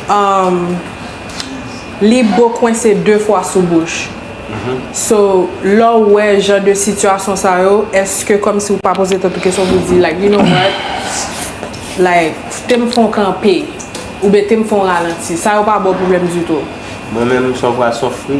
Umm li bo kwense 2 fwa sou bouch so lè w wè jan de sitiyasyon sa yo eske kòmsi ou pa poze tèt ou kesyon pou di like you know what like te m fè yon kanpe oubyen te m fè yon ralanti sa yo pa ba w pwoblèm ditou? Mwen menm sa w pa sofri.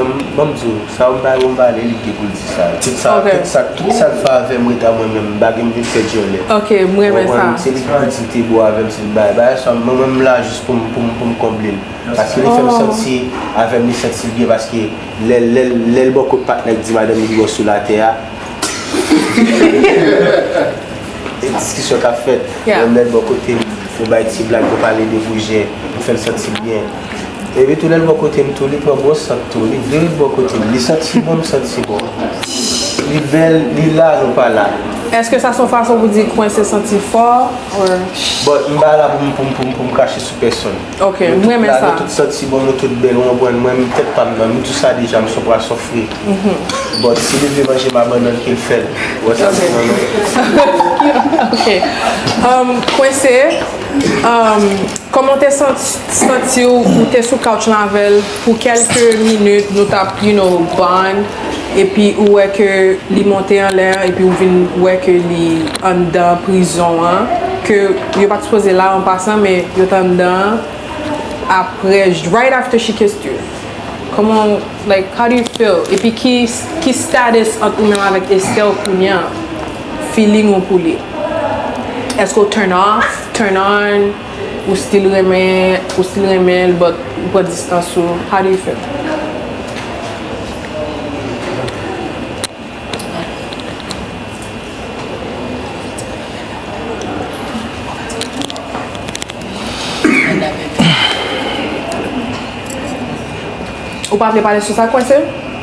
Bon banm diw sa ou bay ou m bale li gen poul di sa tout sa tout sak fè avèm ret a mwen menm m pa gen m vin fè dyòlè ok m renmen sa se li ki di te bo avèm se li bay bagay sa mwen menm m la jis poum poum konblel paske li fèm santi avèm li santi l byen paske lèl lèl lèl bò kot patnèl di madanm li pi gwo sou latè a e diskisyon kap fèt menm lèl bò kotem yo bay ti blag yo pale de goujè m fèl santi l byen. E li tounen bò kote m tou li pran bon sant tou li vire bò kote m li santi si bon m santi si bon li bèl li la nou pa la. Eske sa son fason pou di kwense santi fò or. Bon m pa la pou m pou m pou m pou m krache sou pèsonn. Ok m renmen sa. Nou tout la nou tout santi si bon nou tout bèl ou konprann mwen menm tèt pa m nan m di w sa deja m son pwason fri bon si li vle manje m abandonn ke l fè l ou wè sa m di nan. Ok kwense kòman w te santi. Santiw ou te sou couch lan avèl pou kelke minit nou tap you know bond epi ou wè ke li monte anlè epi ou vin wè ke li anndan prizon an ke yo pat sipoze la an pasan men yo t anndan an aprè right after she kissed you kòman ou like how do you feel epi ki status ant ou menm avèk Estelle kounya feeling ou pou li eske ou turn off turn on. Ou still renmen ou still renmen l but ou pran distans ou how do you feel? Ou pa vle pale sou sa kwese?